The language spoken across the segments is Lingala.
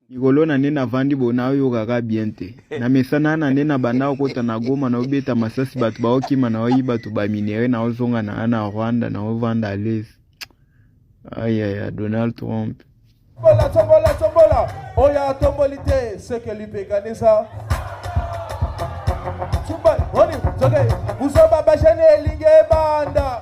likolo na nde navandi bona oyokaka bien te na mesana na nde na banda okota na goma na obeta masasi bato baokima na oyi bato baminere na ozonga na ana rwanda na ovanda alesi ayaya donald trump tombola tombola tombola oyo atomboli te seke lipekanisa tumba oni zoke buzoba bashani elingi ebanda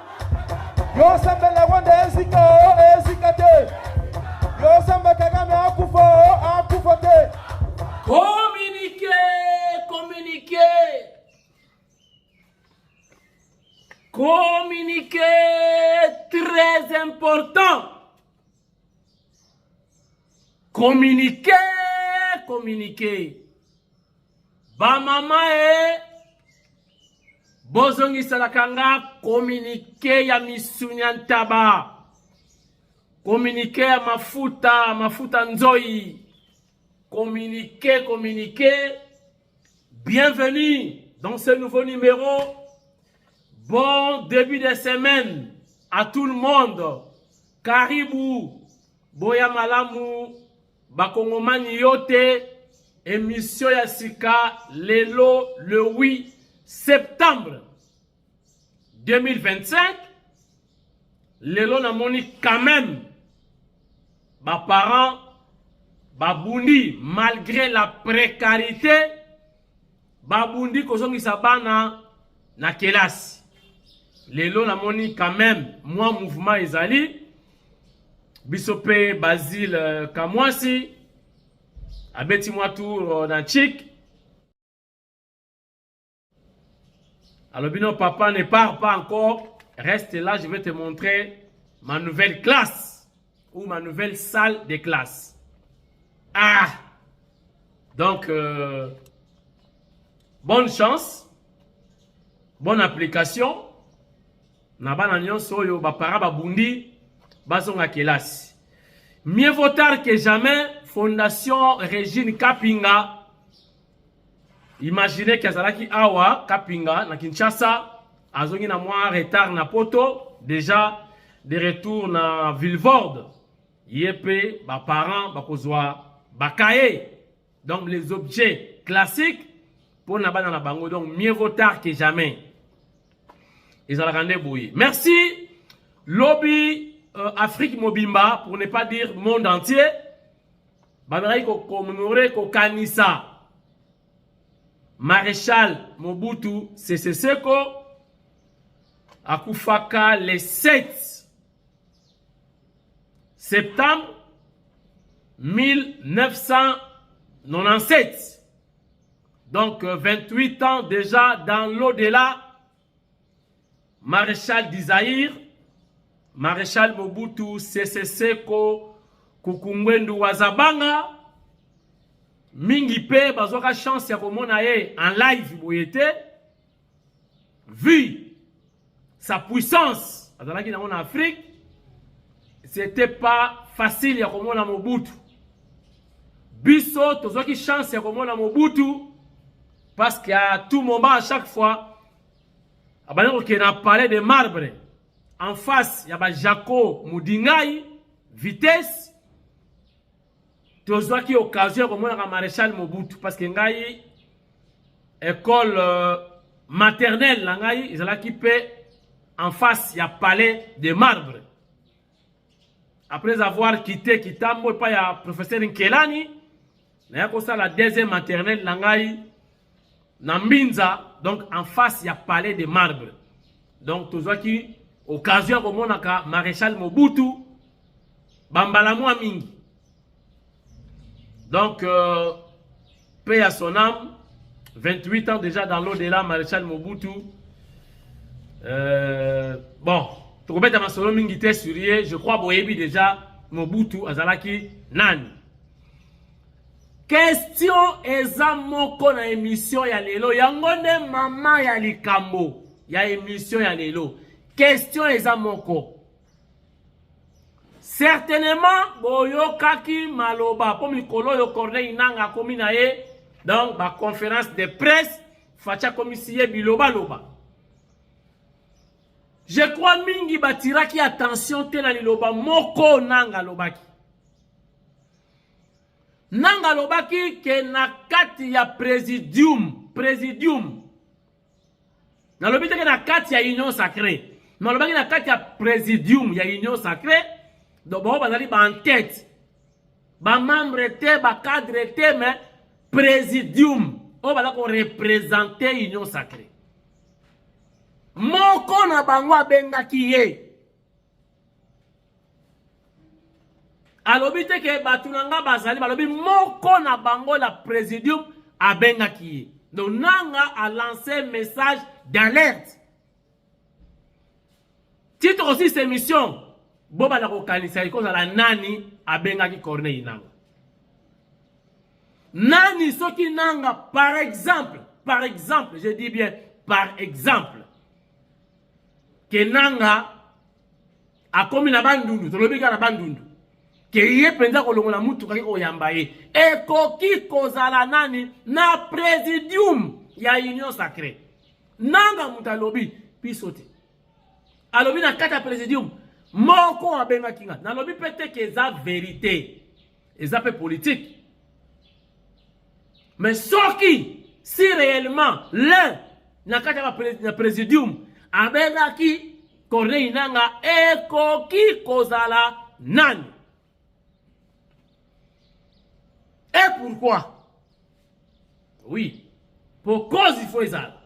Yo sambela Rwanda ezika o ezika te. Yo samba Kagame akufa o akufa te. Communiquer, communiquer. Communiquer très important. Communiquer, communiquer. Ba maman eh bozongiselaka nga kominike ya misuni ya ntaba kominike ya mafuta mafuta nzoi kominike kominike bienvenue dans ce nouveau numéro bon début de semaine à tout le monde karibu boya malamu Bakongomani yo te emission ya sika lelo le 8 septembre 2025 lelo namoni quand même baparent babundi malgré la précarité Babundi kozongisa bana na kelasi. Lelo namoni quand même mwa mouvement ezali biso mpe Basile euh, Kamwasi abeti mwa tour euh, na chik alobi no papa ne part pas encore reste là je vais te montrer ma nouvelle classe ou ma nouvelle salle de classe. Ah Donc, euh, bonne chance, bonne application. Na bana nyonso oyo ba para ba bundi bazonga kelasi. Mieux vaut tard que jamais, Fondation Régine Kapinga Imaginez que azalaki awa Kapinga na Kinshasa, azongi na mwa retard na poto, déjà de retour na Villevorde. Ye pe ba parents bakozwa ba cahiers. Donc les objets classiques pour na bana na bango. Donc mieux vaut tard que jamais. Ezalaka nde boye. Merci lobby euh, Afrique mobimba pour ne pas dire monde entier. Bazalaki ko commémorer kokanisa Marechal Mobutu Sese Seko akufaka le 7 septembre 1997. Donc 28 euh, ans déjà dans l'au-delà Marechal du Zaïre, Marechal Mobutu Sese Seko Kukungwendu Wazabanga mingi mpe bazwaka chance ya komona ye en live boye te vu sa puissance azalaki nango na Afrique c'était pas facile ya komona Mobutu biso tozwaki chance ya komona Mobutu parce que à tout moment à chaque fois abandi kokende na palais de marbre en face ya bajako mudingai vitesse tozwaki occasion ya komonaka maréchal mobutu parce que ngai école euh, maternelle na ngai ezalaki mpe en face ya palais de marbre Après avoir quitté Kitambo epai ya professeur Nkelani, naya kosala deuxième maternelle na ngai na Mbinza, donc en face ya palais de marbre. Donc tozwaki occasion ya komonaka Marechal Mobutu bambala mwa mingi. Donc, euh, paix à son âme. 28 ans déjà dans l'au-delà, Maréchal Mobutu. Euh, bon, tokobeta masolo mingi te sur ye je crois boyebi déjà mobutu azalaki nani question eza moko na émission ya lelo yango nde mama ya likambo ya émission ya lelo question eza moko Certainement boyokaki maloba po mikolo oyo Corneille Nanga akomi na ye donc ba conférence de presse Fatshi akomisi ye biloba loba. Je crois mingi batiraki attention te na liloba moko Nanga alobaki. Nanga alobaki ke na kati ya presidium, presidium nalobi teke na kati ya union sacré nalobaki na kati ya présidium ya union sacré donc bango bazali baentete bamembre te bacadre te mais présidium oyo baza korepresente union sacré moko na bango abengaki ye alobi te ke bato na nga bazali balobi moko na bango na presidium abengaki ye donc nanga alance message d'alerte titre aussi cette émission bobanda kokanisa ekozala nani abengaki corneille nanga nani soki nanga par exemple par exemple je dis bien par exemple ke nanga akomi na bandundu tolobi kaka na bandundu ke ye mpenza kolongola motuka ye koyamba ye ekoki kozala nani na presidium ya union sacré nanga moto alobi biso te alobi na kati ya presidium moko abengaki nga nalobi mpe te ke eza verite eza pe politique mais soki si réellement l'un na kati ya présidium abengaki corneille nanga ekoki kozala nani et pourquoi Oui. Pour cause il faut ezala.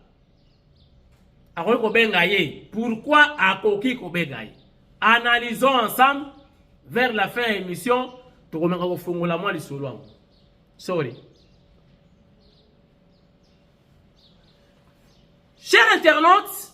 Akoki kobenga ye. Pourquoi akoki kobenga ye? Analysons ensemble vers la fin ya émission tokomeka kofongola mwa lisolo yango. Sorry. Chers internautes,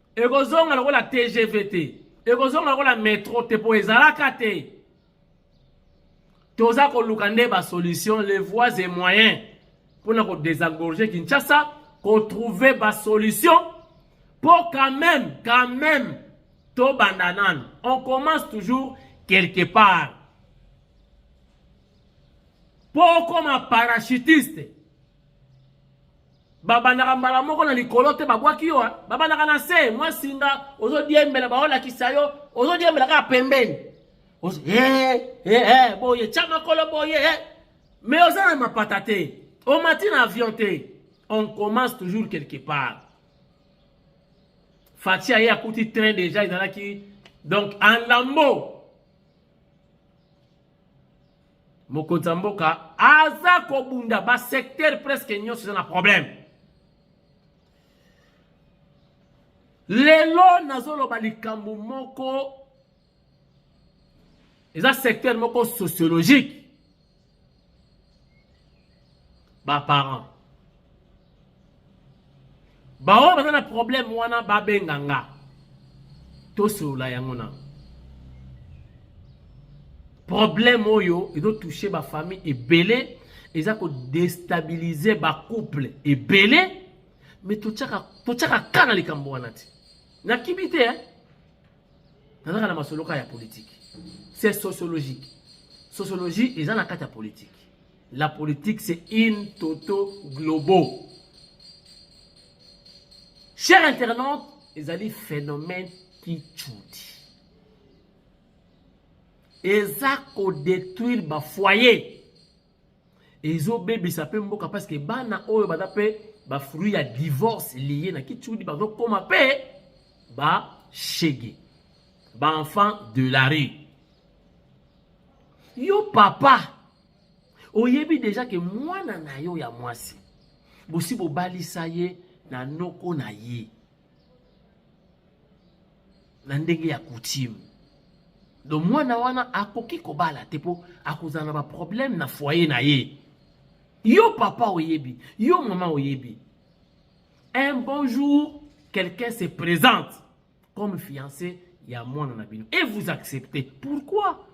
ekozonga lokola tgv te ekozonga lokola metro te mpo ezalaka te toza koluka nde basolution les voies et moyens mpo na kodesengorge kinshasa kotrouve basolution mpo quand même quand même tobanda nano on commence toujours quelque part mpo okoma parachutiste babandaka mbala moko na likolo te babwaki yo babandaka na se mwa singa ozodiembela baolakisa yo ozodiembela kaka pembeni eh, eh, eh, boye tya makolo boye mais oza na mapata te omati na avion te on commence toujours quelque part fati aye akuti train déjà ezalaki donc en lambeau mokonzi ya mboka aza kobunda basecteur presque nyonso eza na problème lelo nazoloba likambo moko eza secteur moko sociologique ba parents baoyo baza na problème wana babenga nga tosolola yango na problème oyo ezotouche bafamille ebele eza kodestabilize bacouple ebele me totyaka ka na likambo wana te nakibi te eh? nazaka na masoloka ya politike c'est sociologique sociologie eza na kati ya politike La politique c'est in toto globo. Cher internaute, ezali phénomène qui tchoudi. Eza ko détruire ba foyer. ezobebisa mpe mboka parce que bana oyo baza mpe bafruit ya divorce liye na kitshudi bazokoma mpe bashege baenfant de la rue yo papa oyebi deja ke mwana na yo ya mwasi bosi bobalisa ye na noko na ye na ndenge ya coutume donc mwana wana akoki kobala te mpo akozala na baproblème na foyer na ye yo papa oyebi yo mama oyebi un bon jour quelqu'un se présente comme fiancé ya mwana na bino et vous acceptez pourquoi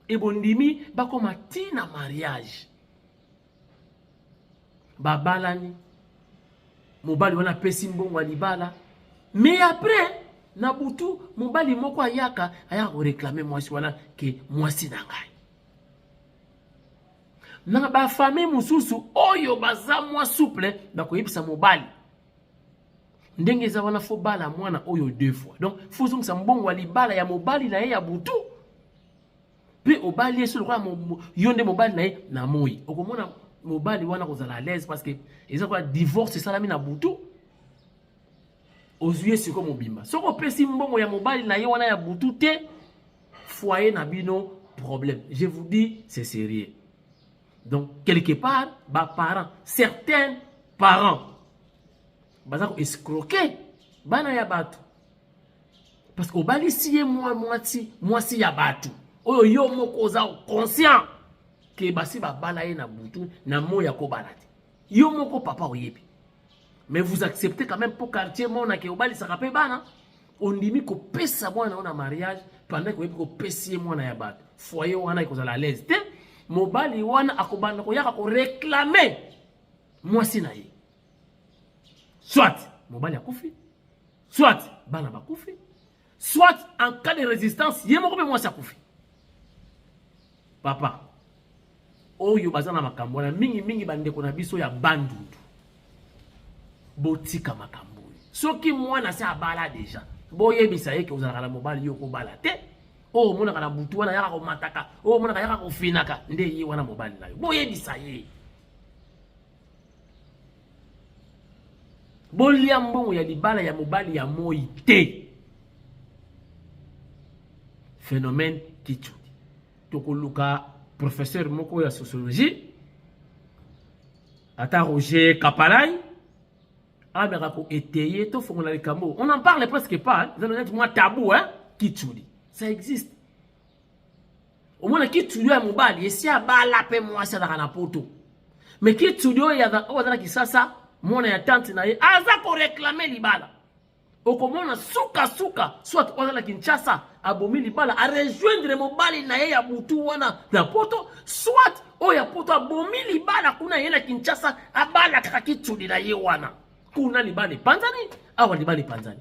et bondimi bakoma ti na mariage babalani mobali wana apesi mbongo ya libala mais après na butu mobali moko ayaka ayaka koreklame mwasi wana ke mwasi na ngai na bafamille mosusu oyo baza mwa souple bakoyebisa mobali ndenge eza wana fo bala mwana oyo deux fois donc fo ozongisa mbongo ya libala ya mobali na ye ya butu mpe obali ye so lokola yo nde mobali na ye na moi okomona mobali wana kozala à l'aise parce que eza kola divorce esalami na butu ozwi ye siko mobimba soki opesi mbongo ya mobali na ye wana ya butu te foyer na bino problème je vous dis c'est sérieux donc quelque part baparent certains parents baza koescroke bana ya bato parce que obalisi ye mwa mwasi mwasi ya bato oyo yo moko oza conscient ke basi babala ye na butu na moi ya kobala te Yo moko papa oyebi. Mais vous acceptez quand même pour quartier mona ke obalisaka pe bana. Ondimi kopesa mwana ona mariage pendant koyebi kopesi ye mwana ya bato. Foyer wana ekozala à l'aise te. Mobali wana akobanda koyaka ko réclamer mwasi na ye. Soit mobali akufi, soit bana bakufi, soit en cas de resistance ye moko mpe mwasi akufi papa oyo baza na makambo wana mingimingi bandeko na biso ya bandundu botika makambo oyo soki mwana se abala deja boyebisa ye ke ozalaka na mobali yo kobala te oyo omonaka na butu wana yaka komataka oyo omonaka yaka kofinaka nde ye wana mobali na yo boyebisa ye bolia mbongo ya libala ya mobali ya moi te phénomène kichudi tokoluka professeur moko ya sociologie ata roger kapalai ameka koetaye tofongola likambo on en parle presque pas eza neti mwa tabou hein? kichudi ça existe omona kitudio ya mobali esi abala mpe mwasi azalaka na poto me kitudio oyo aza na kisasa mwana ya tante na ye aza koreklame libala okomona sukasuka soit oyo aza na kinshasa abomi libala arejoindre mobali na ye ya butu wana na poto soit oyo ya poto abomi libala kuna ye na kinshasa abala kaka kitsudi na ye wana kuna libala epanzani awa libala epanzani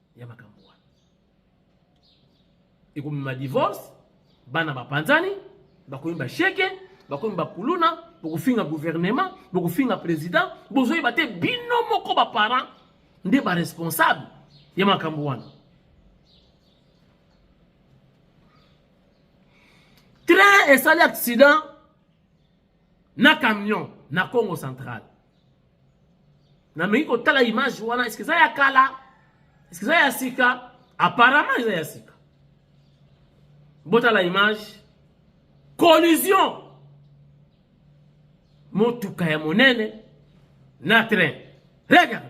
ya makambo wana ekomema divorce bana bapanzani bakomi basheke bakomi bakuluna bokofinga gouvernement bokofinga président bozoyeba te bino moko baparent nde baresponsable ya makambo wana train esali accident na camion na Congo central na meki kotala image wana eske eza ya kala eske eza ya sika apparemment eza ya sika botala image collision motuka ya monene na train regarde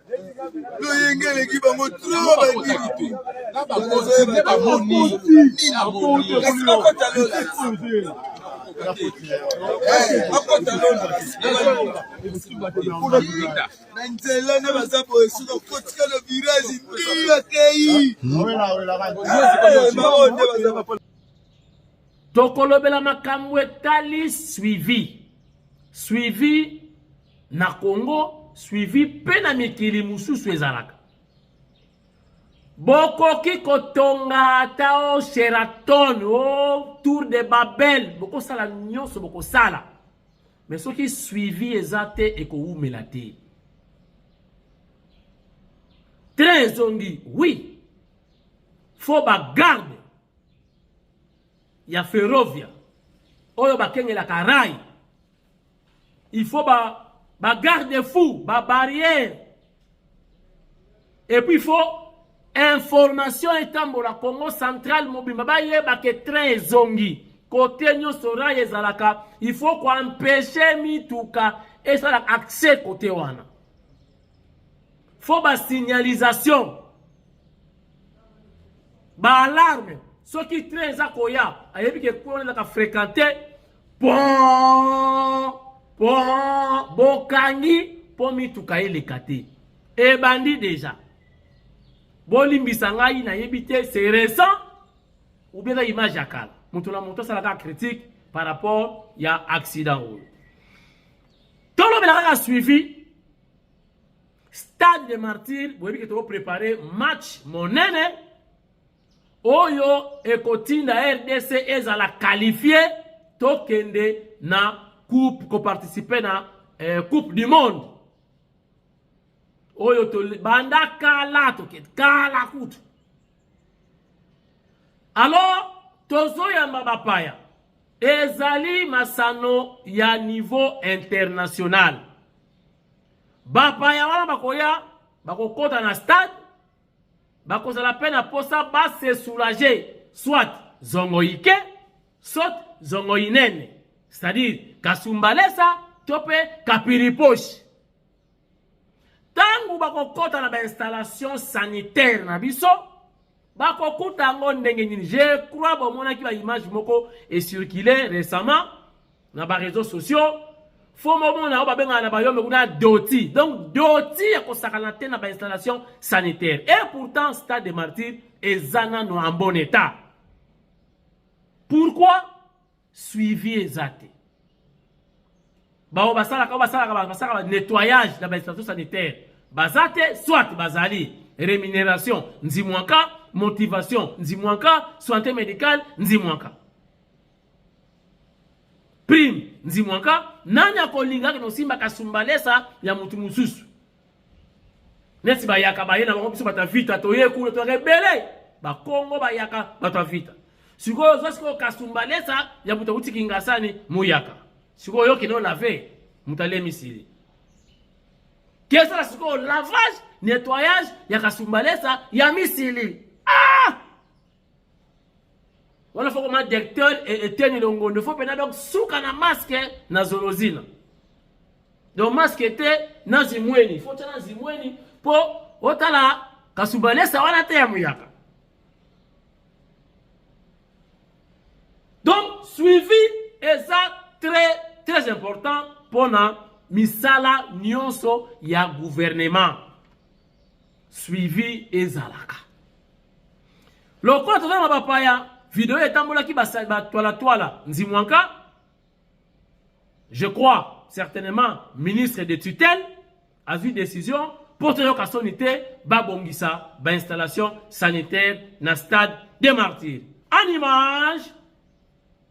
loyenge eleki bango na nzela na baza boye soki okotika na virage ndio akei tokolobela makambo etali suivi suivi na Congo suivi mpe na mikili mosusu ezalaka. Bokoki kotonga ata o Sheraton o Tour de Babel, bokosala nyonso bokosala, me soki suivi eza te ekowumela te. Train ezongi, oui, fo bagarde ya Ferrovia oyo bakengelaka rail il faut ba ba garde fou ba barrière et puis il faut information etambola congo central mobimba bayeba ke train ezongi kote nyonso rail ezalaka il faut koempeshe mituka esala accès kote wana faut basignalisation baalarme soki train eza koya ayebi ke kuna ezaka fréquente pon pon bokangi mpo mituka eleka te ebandi deja bolimbisa ngai nayebi te c'est récent ou bien na image ya kala moto na moto asalaka critique par rapport ya accident oyo tolobela kaka suivi stade de martyr boyebi ke tokoprépare match monene oyo ekotinda rdc ezala qualifie tokende na coupe koparticipe na eh, coupe du monde oyo banda kala tokende kala kutu alors tozoyamba bapaya ezali masano ya niveau international bapaya wana bakoya bakokɔta na stade bakozala mpe na mposa ba se soulager soit zongo ike soit zongo inene c'est-à-dire kasumbalesa to mpe kapiriposhi ntango bakokɔta na bainstallation sanitaire na biso bakokuta yango ndenge nini je crois bomonaki baimage moko ecircule récemment na ba réseaux sociaux fo momona oyo babengaka na bayombe kuna doti donc doti ya kosakana te na bainstallation sanitaire et pourtant stade de martyr eza nano en bon état pourquoi suivi eza te baoyo basalaka oyo basalaka basalaka nettoyage na bainstallation sanitaire baza te soit bazali rémunération nzimwaka motivation nzimwaka santé médicale nzimwaka Prime Nzimwaka, nani akolinga kende kosimba kasumbalesa ya mutu mosusu? Neti bayaka baye na bango biso bato ya vita toye kuna toyaka ebele bakongo bayaka bato ya vita sikoyo ozwa sikoyo kasumbalesa ya moto auti kingasani moyaka sikoyo oyoki no lave moto alemisili kesala sikoyo lavage nettoyage ya kasumbalesa ya misili ah! wana fo koma directeur eteni longondo fo mpena donc suka na maske na zolozina donc maske te na zimweni fo tya na zimweni mpo otala kasubalesa wana te ya muyaka donc suivi eza très très important mpona misala nyonso ya gouvernement suivi ezalaka Lokola toza na bapaya, video etambolaki batwalatwala nzimwanka, je crois certainement ministre de tutelle azwi décision mpo toyoka soni te babongisa bainstallation sanitaire na stade de martyr en image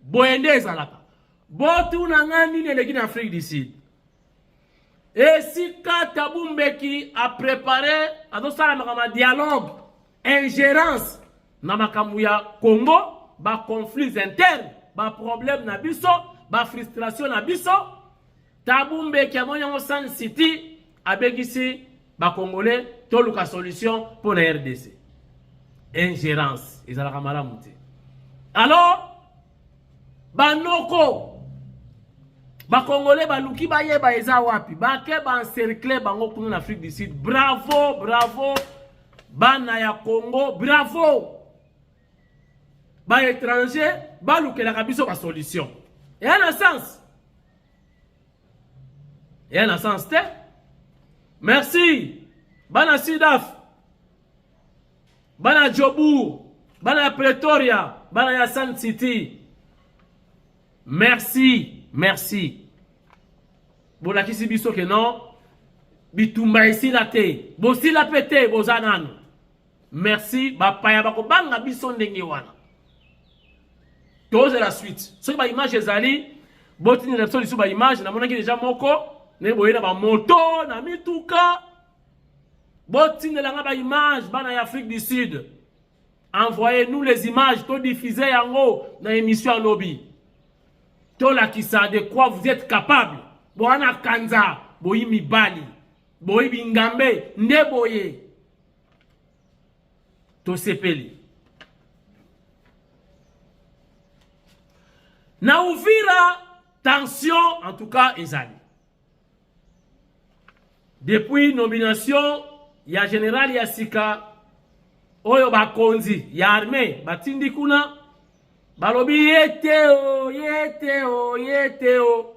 boye nde ezalaka botuna ngai nini eleki na afrique du sud esika tabu mbeki aprepare azosala makambo ya dialogue ingérence na makambo ya congo baconflits interne baproblème na biso bafrustration na biso Tabu Mbeki amoni yango Sun City abekisi bakongole toluka solution mpo na rdc ingérence ezalaka malamu te alors banoko bakongole baluki bayeba eza wapi bake baencercle bango kuna na afrique du sud bravo bravo bana ya congo bravo ba étranger balukelaka biso ba solution eya na sens eya na sens te merci bana sidaf bana jobour bana ya pretoria bana ya sun city merci merci bolakisi biso ke non bitumba esila te bosila mpe te boza nano Merci bapaya bakobanga biso ndenge wana. Tozela suite. Soki ba image ezali botindela biso lisusu ba image namonaki deja moko ndenge boye na bamoto na mituka botindelanga ba image bana ya Afrique du Sud. Envoyez nous les images to diffuser yango na émission lobi. Tolakisa de quoi vous êtes capable. Boana kanza boyi mibali. Boyi bingambe nde boye. tosepeli na uvira tension en tout cas ezali depuis nomination ya general ya sika oyo bakonzi ya armée batindi kuna balobi ye te o ye te o ye te o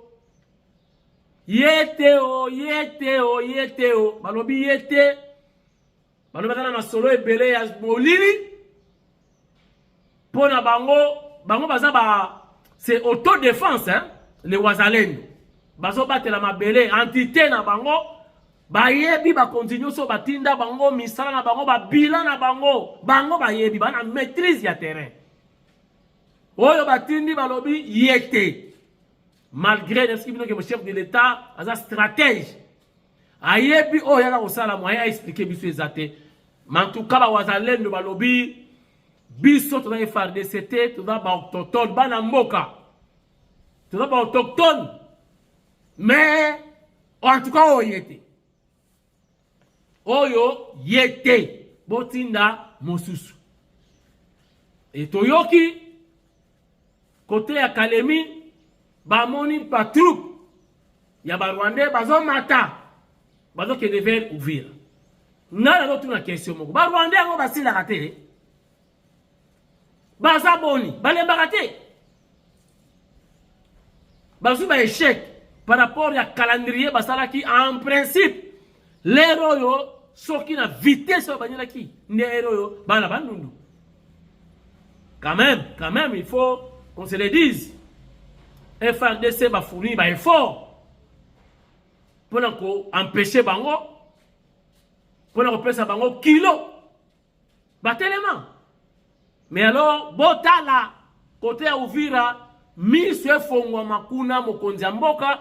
Yete o yete o yete o balobi yete balobaka na masolo ebele ya molili mpo na bango bango baza ba c'est autodefense hein? le wazalendo bazobatela mabele entité na bango bayebi bakonzi nyonso batinda bango misala na bango babila na bango bango bayebi bana maîtrise ya terrain oyo batindi balobi ye te malgré nayebi bino ke chef de l'etat aza stratège ayebi oyo yaka kosala moyen aexplike biso eza te mantuka bawazalendo balobi biso toza efardc te toza baautochtone bana mboka toza baautochtone mais en tout cas oye te oyo ye te botinda mosusu e toyoki kote ya kalemi bamoni batroupe ya barwandais bazomata bazokende vers uvira ngai nazotuna question moko barwandais yango basilaka te baza boni balembaka te bazwi ba échec par rapport ya calendrier basalaki en principe lere oyo soki na vitesse oyo banyelaki nde ere oyo bana bandundu quand même quand même il faut qu'on se le dise frdc bafourni ba effort mpona koempeshe bango mpona kopesa bango kilo Batelema. Mais alors botala kote ya Uvira miso efongwama kuna mokonzi ya mboka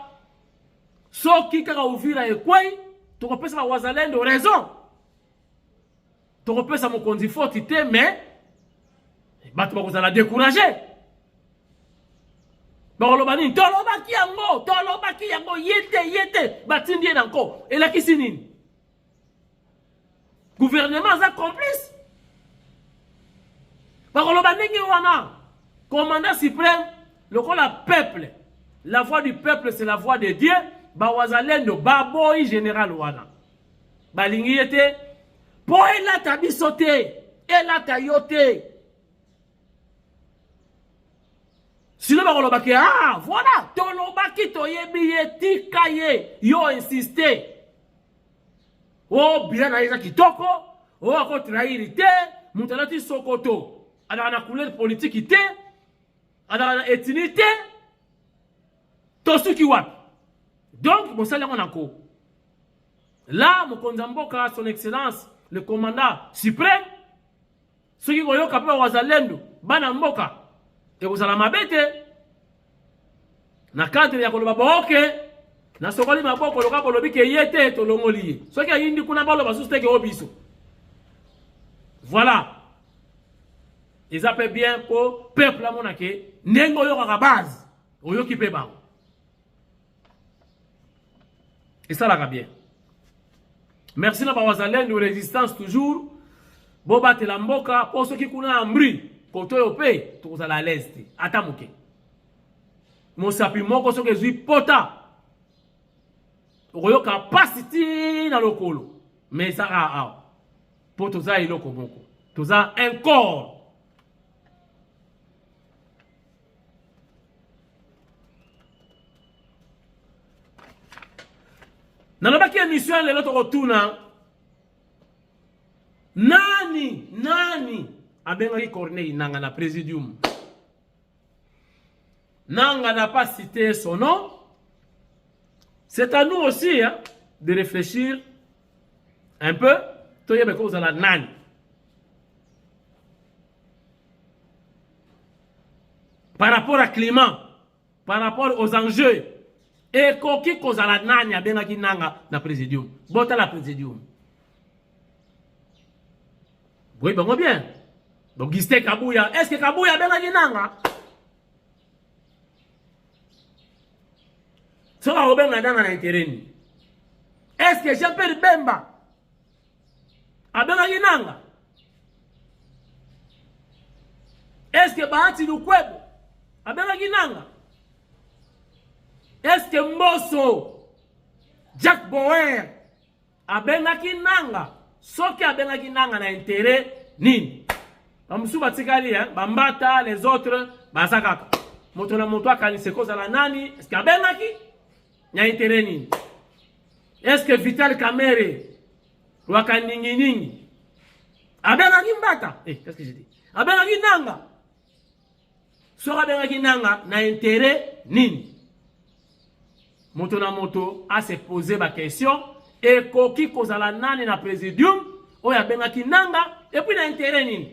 soki kaka Uvira ekwei tokopesa bawazalendo raison tokopesa mokonzi foti te mais bato bakozala decourage bakoloba nini tolobaki yango tolobaki yango ye te ye te batindi ye na nko elakisi nini gouvernement aza complice bakoloba ndenge wana commandant suprême lokola peuple la voix du peuple c'est la voix de dieu bawazalendo baboyi général wana balingi ye te mpo elata biso te elata yo te sino bakoloba ke ah voilà tolobaki toyebi ye tika ye yo insiste o oh, bila na ye eza kitoko o oh, akotrahiri te moto alati sokoto azalaka na couleur politiki te azalaka na etini te tosuki wapi donc bosali yango na ko la mokonzi ya mboka son excellence le commandant suprême soki koyoka mpe ba wazalendo bana mboka ekozala mabe te na cadre ya koloba booke nasokoli maboko loka bolobi ke ye te tolongoli ye soki ayindi kuna baloba susu teke o biso voilà eza mpe bien mpo peuple amona ke ndenge oyokaka base oyoki mpe bango esalaka bien merci na bawazalendo resistance toujours bobatela mboka mpo soki kuna ya mbri koto oyo mpe tokozala alaise te ata moke mosapi moko soki ezwi pota okoyoka mpasi ti na lokolo me ezaka awa mpo toza eloko moko toza un corps nalobaki emission ya lelo tokotuna nani nani abengaki corneille nanga na presidium nanga n'a pas cité son nom c'est à nous aussi hein, de réfléchir un peu toyeba ekozala nani par rapport à climat par rapport aux enjeux ekoki kozala nani abengaki nanga na présidium botala présidium boyebi bango bien bogiste kabuya est ce que kabuya abengaki nanga soki akobenga nanga na intereni est ce que jean pierre bemba abengaki nanga eske bahati lukwebo abengaki nanga eske mboso jack bower abengaki nanga soki abengaki nanga na intere nini bamosusu batikali eh? bambata les autres baza kaka moto na moto akanisa ekozala nani eske abengaki Na intérêt nini? Est-ce que Vital Kamerhe waka ningi ningi abengaki mbata eh, qu'est-ce que j'ai dit abengaki nanga soki abengaki nanga na intérêt nini moto na moto ase pose baquestion ekoki kozala nani na présidium oyo abengaki nanga epuis na intérêt nini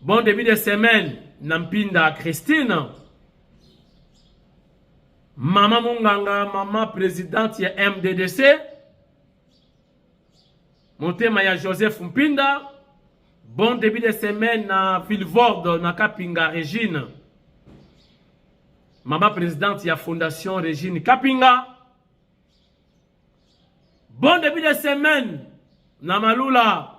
Bon début de semaine na mpinda Christine mama monganga mama presidente ya MDDC motema ya Joseph Mpinda bon début de semaine na Vilvorde na Kapinga Regine mama presidente ya fondation Regine Kapinga bon début de semaine na Malula